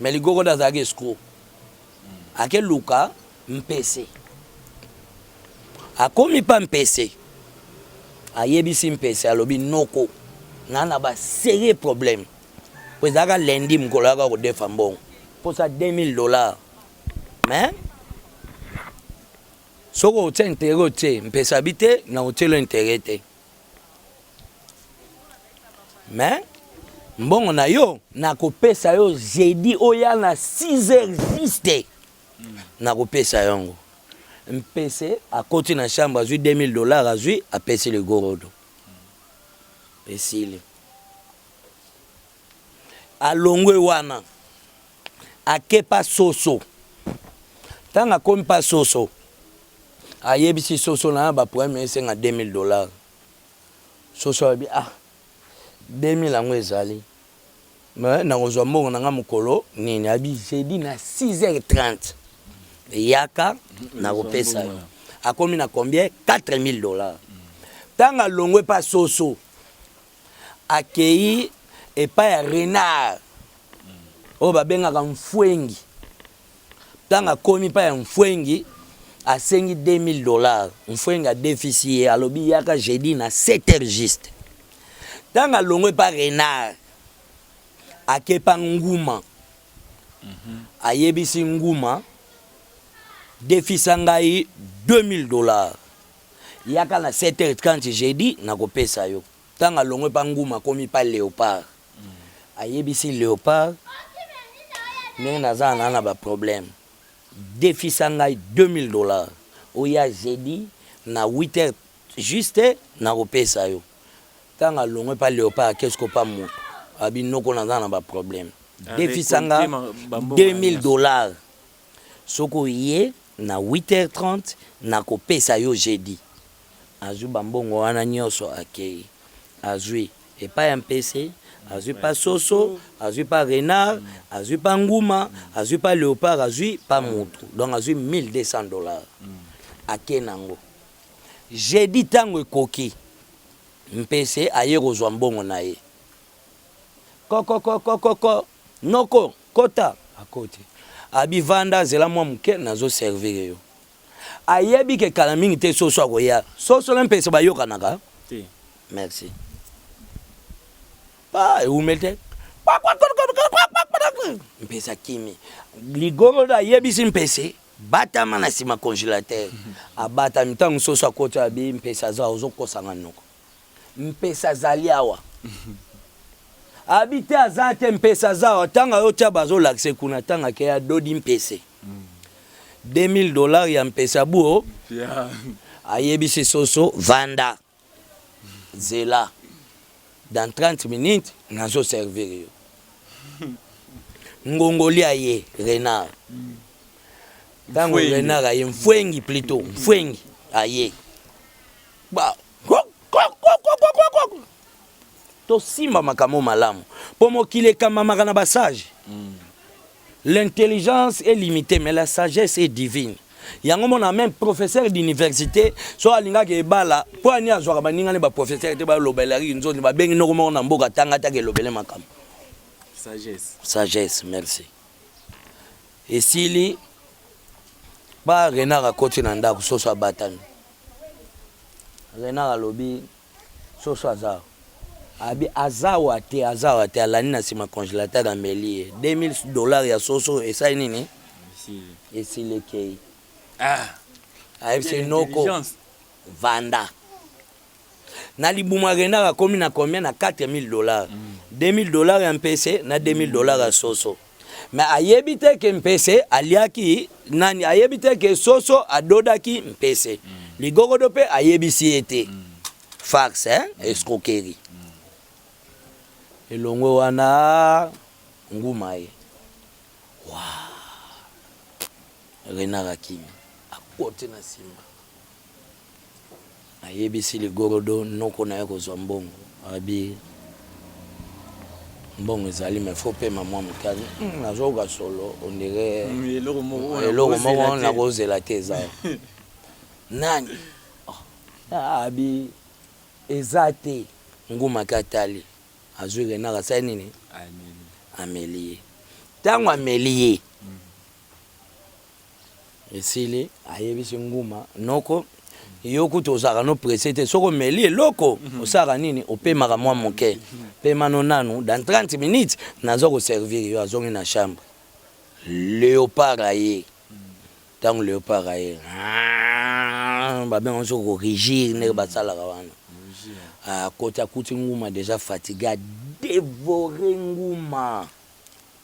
Mais ligogo nde azalaki escro ake luka mpese akomi pa mpese ayebisi mpese alobi noko na na ba serieux problème po ezalaka lundi mokolo yaka kodefa mbongo posa 2000 dollars mais soki otie intere otie mpese abi te na otielo intere te mais mbongo na yo nakopesa yo jeudi oya na 6 heures juste nakopesa yango mpese akoti na chambre azwi 2000 dollars azwi apesi ligorodo esili alongwe wana ake pa soso ntango akomi pa soso ayebisi soso na ba problème esenga 2000 dollars soso abi ah 2000 yango ezali mais nakozwa mbongo na nga mokolo nini abi jeudi na 6h30 yaka nakopesa yo akomi na combien 4000 dollars ntango alongwe pa soso akeyi epai ya renard oyo babengaka mfwengi ntango akomi epai ya mfwengi asengi 2000 dollars mfwengi adefisi ye alobi yaka jeudi na 7 heures juste ntango alongwe epai renard akepa nguma mhm. ayebisi nguma defisa ngai 2000 dollars Yaka na 7h30 jeudi nakopesa yo. Tango alongwe pa Nguma akomi pa Leopard. Ayebisi Leopard ndenge naza na na ba problème. Defisa ngai 2000 dollars oya jeudi na 8h juste nakopesa yo. Tango alongwe pa Leopard ake sikoyo pa moto alobi noko naza na ba problème. Defisa nga 2000 dollars. Soki oye na huit heures trente nako pesa yo jeudi. Azui ba mbongo wana nioso akeyi. Azui epai ya mpese, azui pa soso, azui pa renard, azui pa nguma, azui pa leopard, azui pa mutu. Donc azui 1200 dollars. Ake nango. Jeudi tango ekoki, mpese aye kozua mbongo naye. Kokokokokoko! Noko, kota! Akoti. Abi, vanda, zela mwa moke, nazo servire yo. Ayebi ke kala mingi te Soso akoya. Soso na Mpese bayokanaka? Te. Merci. Pa, ewumeli te. Mpese akimi. Ligorodo ayebisi Mpese, batama na sima congelateur. Abatami, tango Soso akoti, abi, Mpese aza, ozo kosanga noko. Mpesa azali awa. Abi te aza te mpesa aza awa tanga yo tia bazo lakise kuna tanga ke ya dodi mpese 2000 dollars ya mpesa buo yeah. ayebisi soso vanda zela dans 30 minutes nazo servir yo ngongoli aye renard ntango renard aye mfwengi plutôt mfwengi aye tosimba makambo malamu mpo mokili ekambamaka na basage mm. l'intelligence est limitée mais la sagesse est divine yango mona meme professeur d'université so alingaka ebala mpo ani azwaka baninga ne baprofesseur te balobelaki nzondi babengi noko moko na mboka tanga ataka elobele makambo sagesse sagesse merci esili ba renard akoti na ndako soso abatami Renard alobi soso aza awa abi azawa te azawa te alandi na sima congelateur ameli ye 2000 dollars ya soso esali nini esili ekei ah ayebisi noko vanda na libuma renard akomi na combien na 4000 dollars mm. 2000 dollars ya mpese na 2000 dollars ya soso Mais ayebi te ke mpese aliaki nani, ayebi te ke soso adodaki mpese. Mm. Ligogodo pe ayebisi ye te. Mm. Farce, hein? Mm. Escroquerie. Mm. Elongwe wana nguma ye. Wa. Renard Akimi. Akote na simba. Ayebisi ligorodo noko naye kozwa mbongo alobi mbongo ezali mais faut pema mwa moke hmm, nazoyoka solo ondire hmm, eloko moko nakozela te eza nani ah, abi eza te ngumaki atali azwi renard asali nini ameli ye ntango ameli ye Esili ayebisi nguma noko yo kutu ozalaka no presse te soki omeli eloko mhm. osalaka nini opemaka mwa moke pema no nanu dans 30 minutes naza koservir yo azongi na chambre leopard aye ntango leopard aye ah, babenga soki korigir ndenge basalaka wana akoti ah, akuti nguma deja fatigue adevore nguma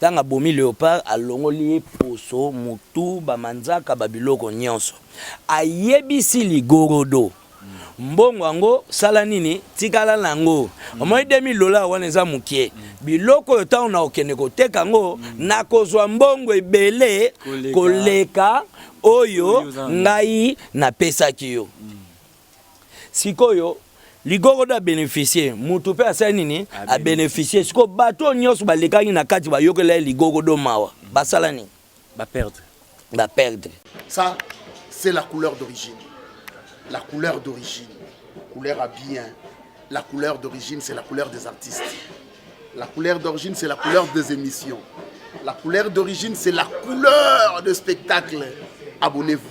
Tango abomi leopard, alongoli ye poso, motu, ba manzaka, ba biloko nionso. Ayebisi ligorodo mbongo yango sala nini? Tikala na yango. Omoni 2000 dollars wana eza mukie. Biloko oyo tango nakokende koteka yango, nakozwa mbongo ebele koleka oyo ngai napesaki yo. sikoyo ligogo da beneficie mutu pe asali nini a beneficie sikoyo bato oyo nyonso balekaki na kati bayokela ye ligogo do mawa basala nini ba perdre ba perdre ça c'est la couleur d'origine la couleur d'origine couleur à bien la couleur d'origine c'est la couleur des artistes la couleur d'origine c'est la couleur des émissions la couleur d'origine c'est la couleur de spectacle abonnez-vous